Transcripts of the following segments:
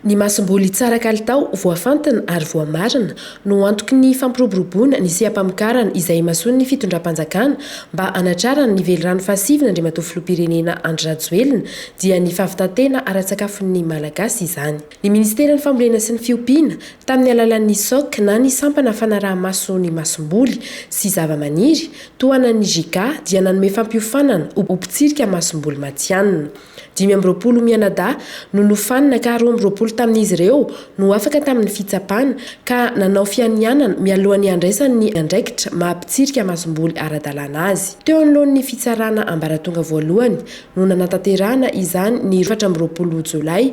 Ny masomboly tsara kalitao, voafantina ary voamarina no antoky ny fampiroboroboana ny seha-pamokarana izay imasoan'ny fitondram-panjakana mba hanatrarany ny velirano fahasiviny Andriamatoa Filoham-pirenena Andry Rajoelina dia ny fahavitan-tena ara-tsakafon'ny Malagasy izany. Ny Ministeran'ny Fambolena sy ny Fiompiana, tamin'ny alalan'ny SOC na ny Sampana Fanaraha-maso ny Masomboly sy Zavamaniry, tohanan'ny JICA, dia nanome fampiofanana ho mpitsirika masomboly matihanina. Dimy amby roapolo mianadahy no nofanina ka roa amby roapolo tamin'izy ireo no afaka tamin'ny fitsapana ka nanao fianianana mialohan'ny handraisany ny andraikitra maha mpitsirika masomboly ara-dalàna azy. Teo anoloan'ny Fitsarana Ambaratonga Voalohany no nanatanterahana izany ny efatra amby roapolo Jolay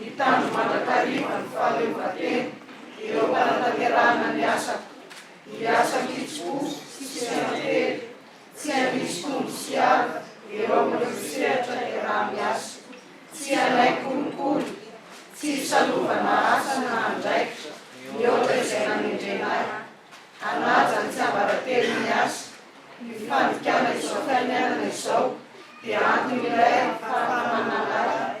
Hitandro mandrakariva ny fahaleovantena ireo mpanatanterahana ny asako, ny asa an-kitsim-po sy seranam-pety, tsy handrisy tombo sy ady eo amin'ireo sehatra iaraha-miasa, tsy hanaiky kolikoly, tsy hisalova na asa na andraikitra mihoatra izay nanendrena ahy, hanaja ny tsiambaratelon'ny asa, ny fandikana izao fiainanana izao dia antony iray ahafahan'ny manana ahy.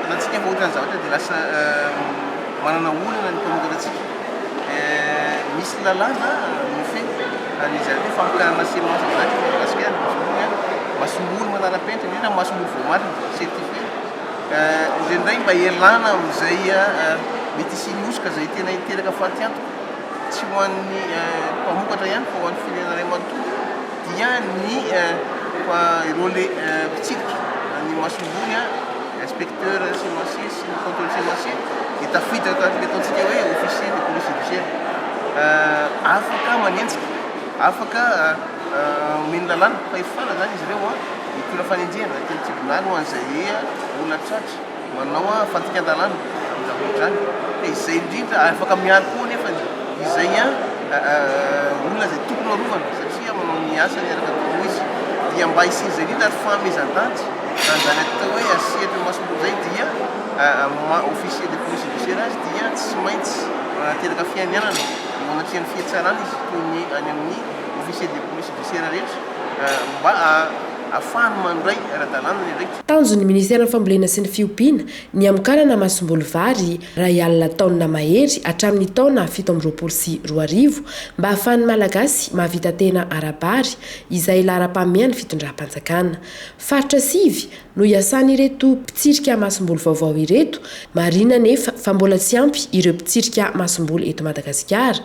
Hitantsika fa ohatran'ny zavatra dia lasa manana olana ny mpanoratra antsika. Misy lalàna nofehy an'i Zairobe famokarana semence eto Madagasikara, voalohany a, masomboly manara-penitra, indrindra ny masomboly voamarina, certifié. Indraindray mba ialana amin'izay mety hisian'ny hosoka izay tena hiteraka fatiantoka, tsy ho an'ny mpamokatra ihany fa ho an'ny firenena iray manontolo. dia ny relais mpitsidika ny masomboly, inspecteur semencier sy ny contrôle semencier, dia tafiditra tao anatin'ilay ataontsika hoe officier de police judiciaire, afaka manenjika, afaka omeny lalàna, fahefana izany izy ireo hitondra fanenjehana teny an-tribonaly ho an'izay olona tratra. Manao a fandikan-dalàna ny zava-mitranga ka izay indrindra ary afaka miaro koa anefa izay a olona izay tokony ho arovana satria manao ny asany araka ny tokony ho izy dia mba hisian'izay indrindra ary fahamezan-danitra na izany atao hoe asian'ny imasomboly izay dia maha officier de police judiciaire azy dia tsy maintsy manateraka fianianana eo anatrehan'ny fihetsarana izy toy ny any amin'ny officier de police judiciaire rehetra mba ahafahany mandray ara-dalàna ny andraikitra Tanjon'ny Ministeran'ny Fambolena sy ny Fiompiana ny hamokarana masomboly vary iray alina taonina mahery hatramin'ny taona fito amby roapolo sy roa arivo mba hahafahan'ny Malagasy mahavita tena ara-bary izay laharam-pahamehan'ny fitondram-panjakana. Faritra sivy no iasan'ireto mpitsirika masomboly vaovao ireto, marihina anefa fa mbola tsy ampy ireo mpitsirika masomboly eto Madagasikara.